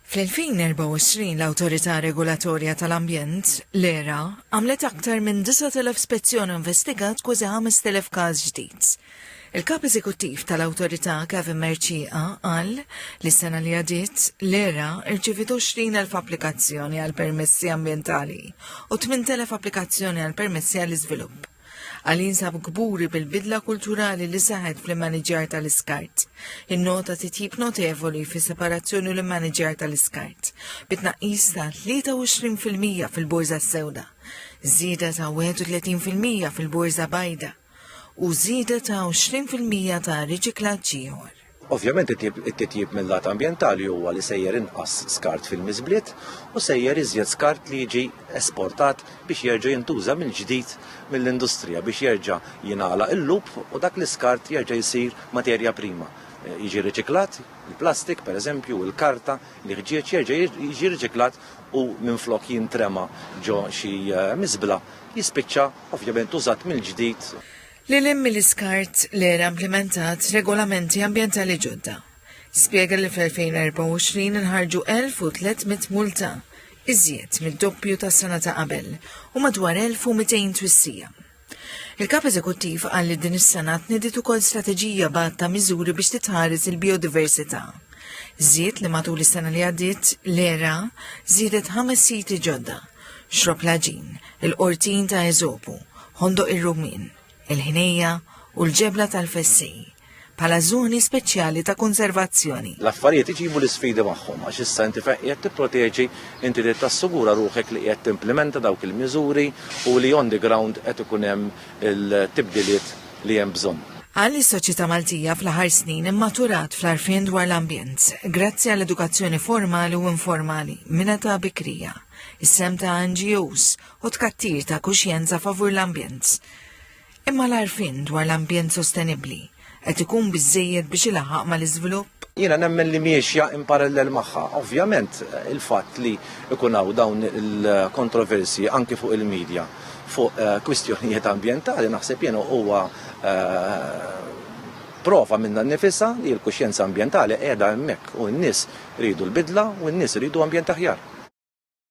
Fl-2024 l-Awtorità Regolatorja tal-Ambjent, l-ERA, għamlet aktar minn 9,000 spezzjoni u investigat kważi 5,000 każ ġdid. Il-Kap Eżekuttiv tal-Awtorità Kevin Mercieca qal li s-sena li għadiet l-ERA rċiviet 20,000 applikazzjoni għal permessi ambjentali u 8,000 applikazzjoni għal permessi għall-iżvilupp. Għal jinsab kburi bil-bidla kulturali li saħet fl-immaniġjar tal-iskart. Innota titjib notevoli fi separazzjoni l-immaniġjar tal-iskart, bitnaqqis ta' 23% fil-borza sewda, zida ta' 31% fil-borza bajda u zida ta' 20% ta' riċiklaġġi ieħor. Ovvjament it-titjib mil-lat ambjentali huwa li sejjer inqas skart fil-miżbliet u sejjer iżjed skart li jiġi esportat biex jerġa' jintuża mill-ġdid mill-industrija biex jerġa' jingħalaq il-loop u dak l-iskart jerġa' jsir materja prima, jiġi riċiklat, il-plastik, pereżempju, il-karta, l-iħġieġ jerġa' jiġi riċiklat u minflok jintrema' ġo xi miżbla jispiċċa ovvjament użat mill-ġdid. Lil hinn mill-iskart, l-ERA implimentat regolamenti ambjentali ġodda. Spjega li fl-2024 inħarġu 1,300 multa, iżjed mid-doppju tas-sena ta' qabel, u madwar 1,200 twissija. Il-Kap Eżekuttiv qal li din is-sena tniediet ukoll strateġija b'għadd ta' miżuri biex titħares il-bijodiversità. Żied li matul is-sena li għaddiet, l-ERA żiedet ħames siti ġodda, xrob laġin, il-qortin ta' Eżopu, ħondoq ir-rumin, il-ħnejja u l-ġebla tal-fessej bħala żoni speċjali ta' konservazzjoni. L-affarijiet iġibu l-isfidi magħhom għax issa inti fejn qiegħed tipproteġi inti trid tassigura ruħek li qiegħed timplimenta dawk il-miżuri u li on the ground qed ikun hemm il-tibdiliet li hemm bżonn. Qal li s-soċjetà Maltija fl-aħħar snin immaturat fl-għarfien dwar l-ambjent, grazzi għal edukazzjoni formali u informali minn età bikrija, is-sehem ta' NGOs u tkattir ta' kuxjenza favur l-ambjent. Imma l-għarfien dwar l-ambjent sostenibbli qed ikun biżżejjed biex ilaħaq mal-iżvilupp? Jiena nemmen li miexja in parallel magħha. Ovvjament, il-fatt li ikun hawn dawn il-kontroversi anki fuq il-medja fuq kwistjonijiet ambjentali naħseb jien huwa prova minna nnifisha li l-kuxjenza ambjentali qiegħda hemmhekk u n-nies ridu l-bidla u n-nies ridu ambjent aħjar.